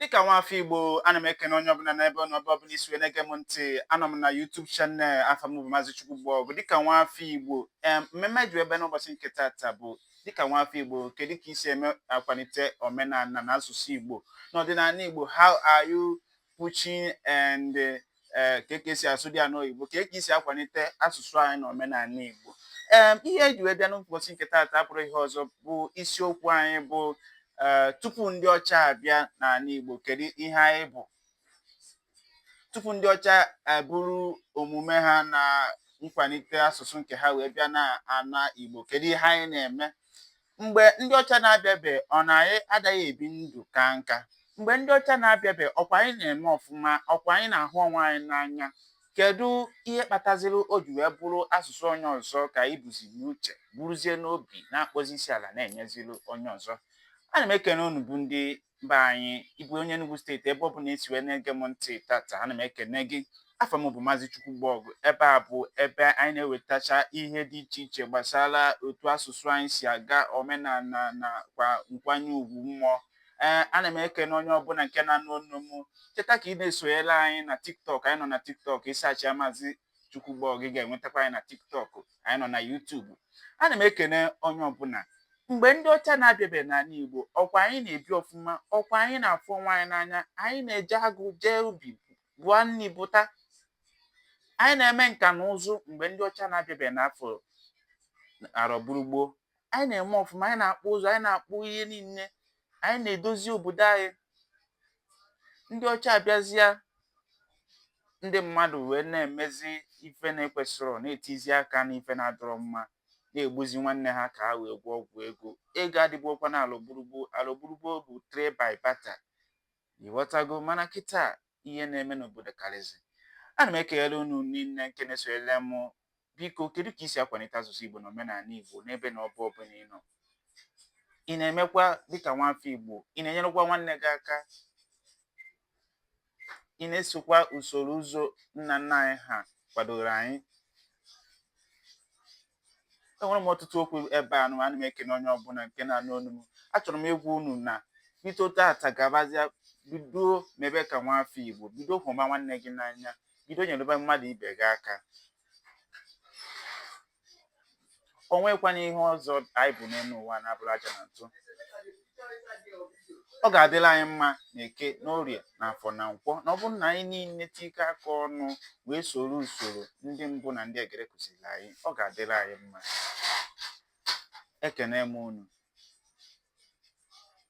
dịka nwa afọ Igbo ana m ekene onye ọbụla n'ebe ọ nọ ebe ọbụla i si wee na-ege m ntị anọ m na YouTube channel afa m bụ Maazị Chukwugbọgụ dịka nwa afọ Igbo em mmemme ji wee bịa n'ụbọchị nke taata bụ dịka nwa afọ Igbo kedu ka i si eme akwalite omenala na asụsụ Igbo na ọdịnala Igbo how are you pushing and ee kee ka e si asụdị ya n'oyibo kee ka i si akwalite asụsụ anyị na omenala Igbo ee ihe eji wee bịa n'ụbọchị nke taata abụrọ ihe ọzọ bụ isiokwu anyị bụ ee tupu ndị ọcha abịa n'ala Igbo kedu ihe anyị bụ tupu ndị ọcha eburu omume ha na nkwalite asụsụ nke ha wee bịa na ana Igbo kedu ihe anyị na-eme mgbe ndị ọcha na-abịabe ọ na anyị adaghị ebi ndụ kaa nka mgbe ndị ọcha na-abịabe ọkwa anyị na-eme ọfụma ọkwa anyị na-ahụ onwe anyị n'anya kedu ihe kpataziri o ji wee bụrụ asụsụ onye ọzọ ka anyị buzi n'uche buruzie n'obi na-akpọzi isi ala na-enyeziri onye ọzọ ana m ekene unu bụ ndị mba anyị ị bụ onye Enugu steeti ebe ọ bụla i si wee na-ege m ntị tata ana m ekene gị afa m bụ Maazị Chukwugbọgụ ebe a bụ ebe anyị na-ewetacha ihe dị iche iche gbasara otu asụsụ anyị si aga omenala na kwa nkwanye ugwu mmụọ ee ana m ekene onye ọbụla nke na-anụ onu m cheta ka ị na-esonyere anyị na tiktok anyị nọ na tiktok ị sachịa Maazị Chukwugbọgụ ị ga-enwetakwa anyị na tiktok anyị nọ na YouTube ana m ekene onye ọbụla mgbe ndị ọcha na-abịabe n'ala igbo ọkwa anyị na-ebi ọfụma ọkwa anyị na-afụ onwe anyị n'anya anyị na-eje agụ jee ubi buo nri buta anyị na-eme nka na ụzụ mgbe ndị ọcha na-abịabe n'afọ arọ gburugburu anyị na-eme ọfụma anyị na-akpụ ụzụ anyị na-akpụ ihe niile anyị na-edozi obodo anyị ndị ọcha abịazịa ndị mmadụ wee na-emezi ife na-ekwesịrọ na-etizi aka na ife na-adịrọ mma na-egbuzi nwanne ha ka ha wee gwọọ ọgwụ ego ego adịburọkwa na alụgburugbo alụgburugbo bụ trade by barter ị ghọtago mana kịta ihe na-eme n'obodo karịzị. Ana m ekele unu niile nke na-esonyere m. Biko, kedu ka i si akwalite asụsụ Igbo na omenala Igbo n'ebe na ọba ọbụla ị nọ? Ị na-emekwa dịka nwafọ Igbo? Ị na-enyerekwa nwanne gị aka? Ị na-esokwa usoro ụzọ nna nna anyị ha kwadoro anyị? enwere m ọtụtụ okwu ebe a nụ ana m ekene onye ọbụla nke na-anụ onu m achọrọ m ịgwa unu na bido tata gabazịa bido mebe ka nwa afọ Igbo bido hụba nwanne gị n'anya bido nyerebe mmadụ ibe gị aka o nwekwana ihe ọzọ anyị bụ n'elu ụwa na-abụrọ aja na ntụ ọ ga-adịlị anyị mma na eke na orie na afọ na nkwọ na ọ bụrụ na anyị niile tikọọ aka ọnụ wee soro usoro ndị mbụ na ndị egede kuziri anyị ọ ga-adịlị anyị mma ekene m unu